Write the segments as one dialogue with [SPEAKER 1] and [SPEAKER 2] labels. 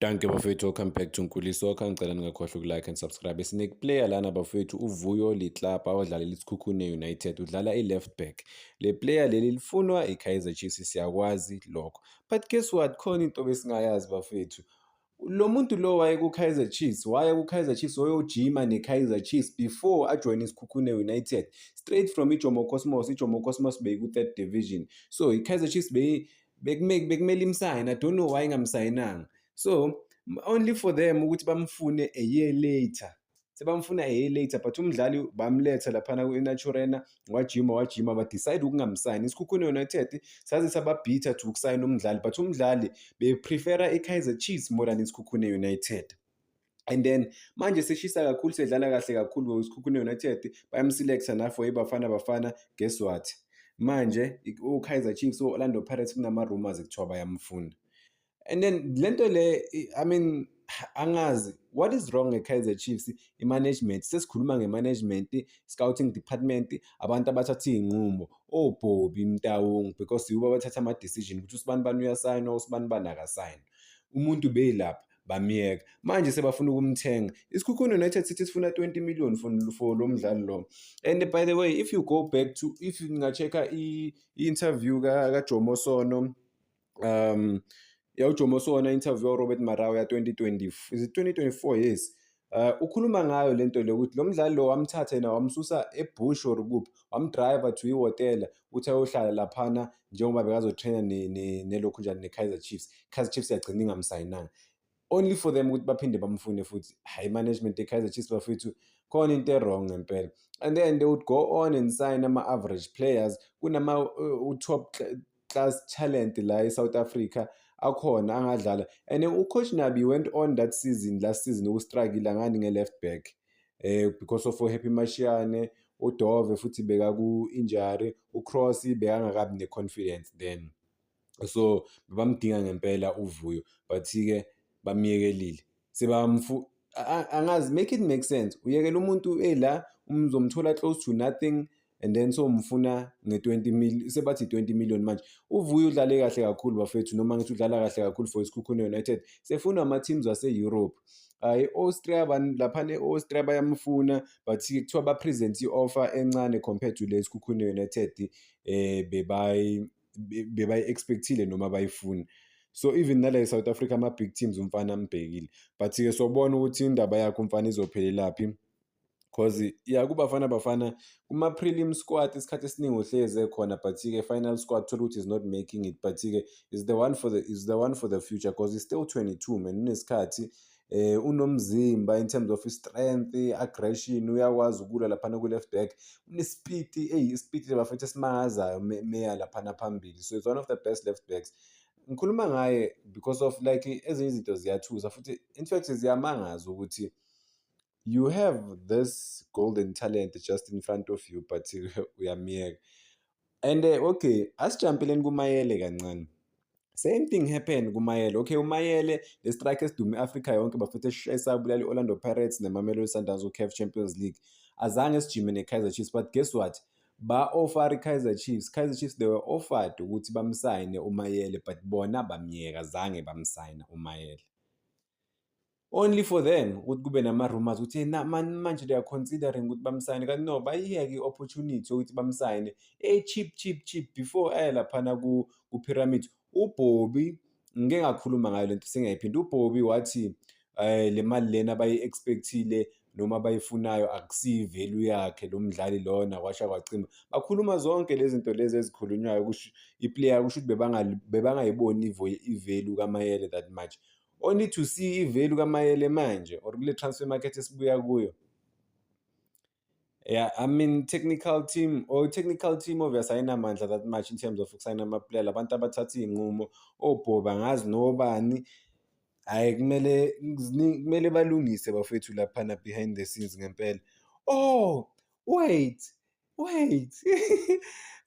[SPEAKER 1] Danke bafethu, welcome back to Nkuli Soccer. Ngicela ningakhohlwa ukulike and subscribe. Sinekuplayer lana bafethu uVuyo Litlapa odlalela iSikhukhune United. Udlala i-left back. Le player leli lifunwa iKaizer Chiefs siyakwazi lokho. But guess what? Khona into besingayazi bafethu. Lo muntu lo waye kuKaizer Chiefs, waye kuKaizer Chiefs wayojima neKaizer Chiefs before ajoyine iSikhukhune United. Straight from iJomo Cosmos, iJomo Cosmos beyiku-third division. So iKaizer Chiefs beyi bekumele bekumele imsayine i don't know why ingamsayinanga so only for them ukuthi bamfune a year later sebamfuna a year later but umdlali bamletha laphana kwi-naturena wajima wajima badecide ukungamsayini isikhukhune united saze sababhitha to ukusayina umdlali but umdlali beprefera i-kaizer chiefs more than isikhukhune united and then manje seshisa kakhulu sedlala kahle kakhulu wesikhukhune united bayamselecta nafo ibafana bafana guess what manje ukaizer chiefs o-orlando pirates kunama-rumors kuthiwa bayamfuna and then le nto le i mean angazi what is wrong nge-kaizer chiefs i-management sesikhuluma nge-management scouting department abantu abathatha iy'nqumo obhobi oh, mtawungu because yibo abathatha ama-decision ukuthi usibani bani uyasayinwa usibani bani akasayinwa umuntu beyilapha bamyeka manje sebafuna ukumthenga isikhukhuni united city sifuna 20 million for, for lo mdlali lo and by the way if you go back to if nginga-check-a i-interview kajomo ka sono um yawujomo sono interview warobert marawa ya-2020 is it 2024 yes Eh, ukhuluma ngayo le nto le ukuthi lo mdlali lo wamthatha yena wamsusa ebush or kuphi wamdriver to ihhotela ukuthi ayohlala laphana njengoba bekazotraina nelokhu njani ne-kaizer chiefs kaizer chiefs yagcina ingamsayinanga only for them ukuthi baphinde bamfune futhi high management ye-kaizer chiefs bafethu khona into e-wrong ngempela and then they would go on and sign ama-average players kunama-top uh, class talent la eSouth Africa akhona angadlala and ucoach Nabi went on that season last season ukustruggle ngani nge-left back eh because of Happy Mashiane uDove futhi beka ku-injury uCross bekangakabi ne-confidence then so bamdinga ngempela uvuyo but-ke bamyekelile Siba mfu angazi make it make sense. Uyekela umuntu ela umzomthola close to nothing and then so mfuna nge-20 million sebathi 20 million manje uvuyo udlale kahle kakhulu bafethu noma ngithi udlala kahle kakhulu for isikhukhune united sefuna ama-teams ase-europe hayi i-austria lapha ne-austria bayamfuna but kuthiwa bapresent i-offer encane compared to le sikhukhune united um eh, bebayi bebayi-expectile noma bayifuni so even nala e-south africa ama-big teams umfana ambhekile but-ke sobona ukuthi indaba yakho umfana izophelelaphi because ya kubafana bafana kuma-prelim squad isikhathi esiningi uhlezi ekhona but-ke final squad thola ukuthi is not making it but-ke is the one for the is the one for the future because is still 22 man unesikhathi eh unomzimba in terms of strength aggression uyakwazi ukulwa laphana ku left back unesipiti eyi isipiti labafethu esimangazayo meya laphana phambili so it's one of the best left backs ngikhuluma ngaye because of like ezinye izinto ziyathusa futhi in fact ziyamangaza ukuthi you have this golden talent just in front of you but uyamyeka and uh, okay asijampeleni kumayele kancane same thing happen kumayele okay umayele le strike esidume africa yonke bafethe eshesa bulali orlando pirates nemamelodi sundowns ucaf champions league azange sijime ne-kaizer chiefs but guess what ba-offer i-kaizer chiefs kaizer chiefs they were offered ukuthi bamsayine umayele but bona bamyeka zange bamsayina umayele only for them ukuthi kube nama-rumors ukuthi hey, na- man- manje they are considering ukuthi bamsayine kanti no bayiyeke i-opportunity yokuthi bamsayine e-cheap cheap cheap before aye laphana ku- ku-pyramid ubhobi ngike ngakhuluma ngayo le nto singayiphindi ubhobi wathi um le mali lena bayi-expectile noma abayifunayo akusiyi value yakhe lo mdlali lona kwasha kwacima bakhuluma zonke lezi zinto lezi ezikhulunywayo kusho iplayer kusho ukuthi bebangali- bebangayiboni ivo- ivalue kamayele that much Only to see ivalue kaMayele manje or kule transfer market esibuya kuyo. Yeah, I mean technical team or technical team obvious ayinamandla that much in terms of ukusayina amaplayer labantu abathatha iy'nqumo obhoba ngazi nobani hhayi kumele kumele balungise bafethu laphana behind the scenes ngempela. Oh wait wait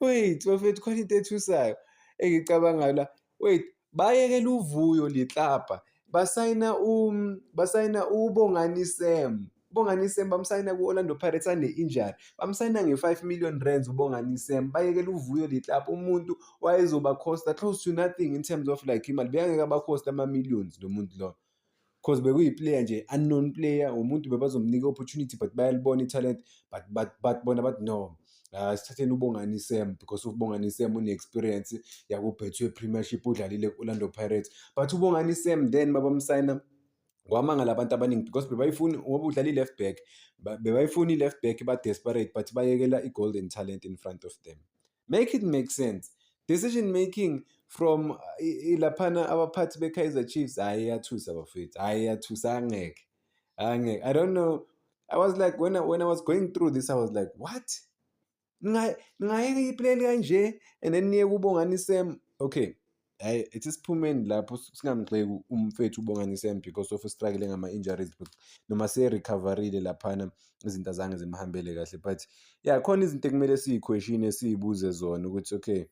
[SPEAKER 1] wait bafethu khona into ethusayo engicabangayo la wait bayekela uvuyo liklabha basayina um basayina ubongani sam ubongani sam bamsayina ku-orlando pirates ane-injury bamsayina nge-five million rands ubongani sam bayekela uvuyo liklabha umuntu wayezoba costa close to nothing in terms of like imali beyangeke abakhosta ama-millions lo muntu loyo because bekuyi-player nje unknown player umuntu bebazomnika i-opportunity but bayalibona i-talent but, but, but bona bathi no uh, sithatheni ubongani sam because ubongani sam une-experience yakubhethwe premiership udlalile ku-orlando pirates but ubongani sam then babamsayina kwamangala abantu abaningi because bebayifuni ngoba udlala i-left back bebayifuni i-left back ba-desperate but bayekela i-golden talent in front of them make it make sense decision making from uh, ilaphana abaphathi be-kaizer chiefs hhayi iyathusa bafethu hhayi iyathusa angeke angeke i don't know i was like when I, when i was going through this i was like what ningayeka ipleli kanje and then niye kubo ngani sem okay hayi ithi siphumeni lapho singamgxeki umfethu uBongani Sam because of struggle ngama-injuries but noma seyerecoverile laphana izinto azange zimhambele kahle but ya khona izinto ekumele siyikhweshini siyibuze zona ukuthi okay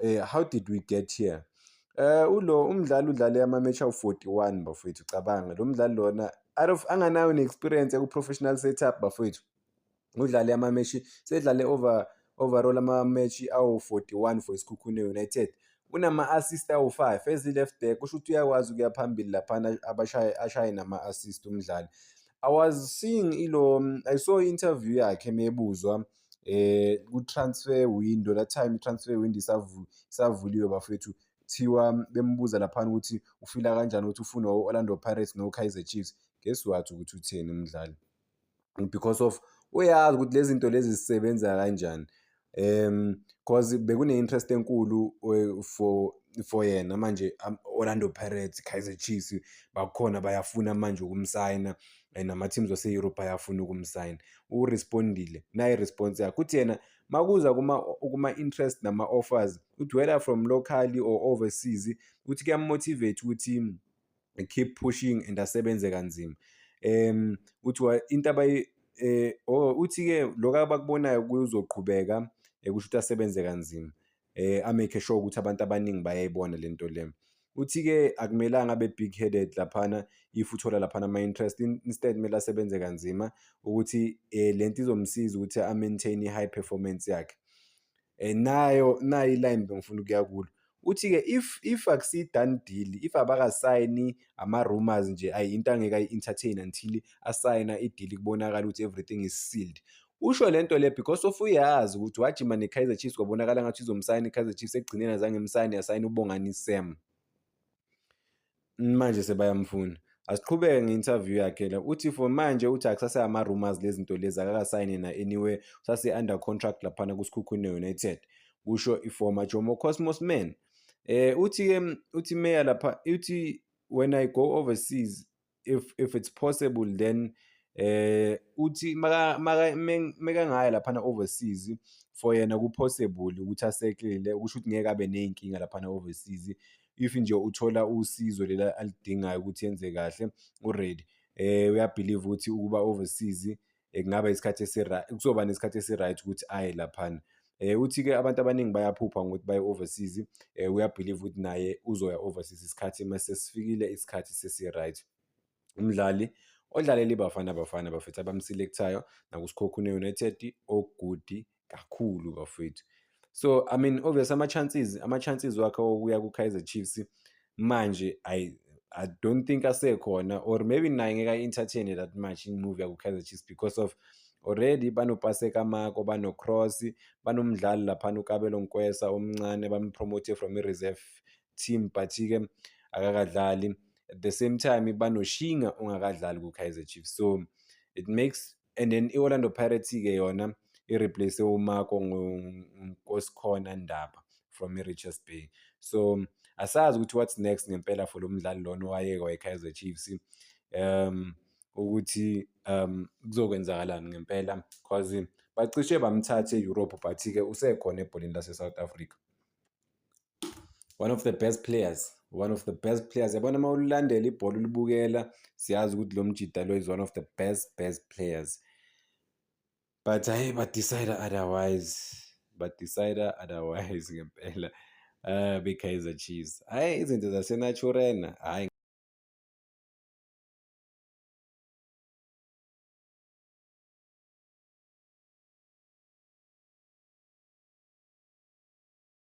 [SPEAKER 1] um how did we get here Eh ulo umdlali udlale ama-match awu-41 bafowethu cabanga lo mdlali lona out of anganayo ne-experience eku-professional setup bafowethu. Udlale amameshi sedlale over overall amameshi awu-41 for isikhukhune United unama-assist awu-5 as i-left back kusho ukuthi uyakwazi ukuya phambili laphana abashaye ashaye nama-assist umdlali i was seeing ilo i saw interview yakhe mebuzwa eh ku-transfer window that time i-transfer window isavuliwe bafethu kuthiwa bembuza laphana ukuthi ufila kanjani ukuthi ufunwa u-orlando pirates no-kaizer chiefs guess what ukuthi utheni umdlali because of uyazi ukuthi lezi zinto lezi zisebenza kanjani um cause bekune-interest enkulu eh, for for yena manje Orlando Pirates Kaizer Chiefs bakhona bayafuna manje ukumsayina eh, nama-teams wase-europe ayafuna ukumsayina urespondile naye response yakhe uthi yena makuza kuma-interest kuma nama-offers uthi whether from locally or overseas uthi kuyamotivate ukuthi keep pushing and asebenze kanzima um uthi into abayi um oh, uthi-ke lokho abakubonayo kuzoqhubeka um eh, kusho ukuthi asebenze kanzima um amake sure ukuthi abantu abaningi bayayibona le nto le uthi-ke akumelanga abe big headed laphana if uthola laphana ama-interest instead kumele asebenze kanzima ukuthi um le nto izomsiza ukuthi a-maintain i-high performance yakhe Eh, nayo nayo iline bengifuna ukuya kulo uthi-ke if if akusiyi-done deal if abakasayini ama-rumors nje ayi into angeke ayi-entertain until asayina idili kubonakala ukuthi everything is sealed usho le nto le because of uyazi ukuthi wajima ne-kaizer chiefs kwabonakala ngathi izomsayina i-kaizer chiefs ekugcineni azange imsayine yasayina ubongani sam manje sebayamfuna asiqhubeke nge-interview yakhe la uthi for manje uthi akusaseyama-rumors lezi zinto lezi akakasayine na-anywhere usase-under contract laphana kusikhukhune united kusho iformer jomo cosmos man um uthi-ke uthi meya lapha uthi when i go overseas if if it's possible then eh uthi maka maka mekangaya lapha na overseas for yena ku possible ukuthi asekelele ukusho ukuthi ngeke abe nezinkinga lapha na overseas if nje uthola usizo lela alidingayo ukuthi yenze kahle uready eh uyabelieve ukuthi ukuba overseas eh, kungaba isikhathi esi-right kuzoba nesikhathi esi-right ukuthi aye laphana Eh uthi-ke abantu abaningi bayaphupha ngokuthi baye overseas eh uyabhiliva ukuthi naye uzoya overseas isikhathi uma sesifikile isikhathi sesi-right. Umdlali odlalele iBafana Bafana Bafethu abamselekthayo nakuSikhokhune United, oGudi kakhulu bafowethu so i mean obvious ama-chances ama-chances wakhe okuya ku-kaizer chiefs manje I, i don't think asekhona or maybe naye ngeke ayi-entertaine that much imove yaku-kaizer chiefs because of already banopaseka mako banocross banomdlali laphana ukabelo nkwesa omncane bampromote from i-reserve team but-ke akakadlali at the same time banoshinga ongakadlali ku-kaizer chiefs so it makes and then i-orlando pirates-ke yona i-replace umarco nkosikhona ndaba from i-richards bay so asazi ukuthi what's next ngempela for lo mdlali lona owayeka wayekaizer chiefs um ukuthi um kuzokwenzakalani ngempela because bacishe bamthathe e-europe but-ke usekhona ebholeni lase-south africa one of the best players one of the best players yabona uma ululandela ibhola ulibukela siyazi ukuthi lo mjida lo is one of the best best players but hayi badecide otherwise badecide otherwise ngempela uh, bekaizer chiefs hhayi izinto zasenaturena hhayi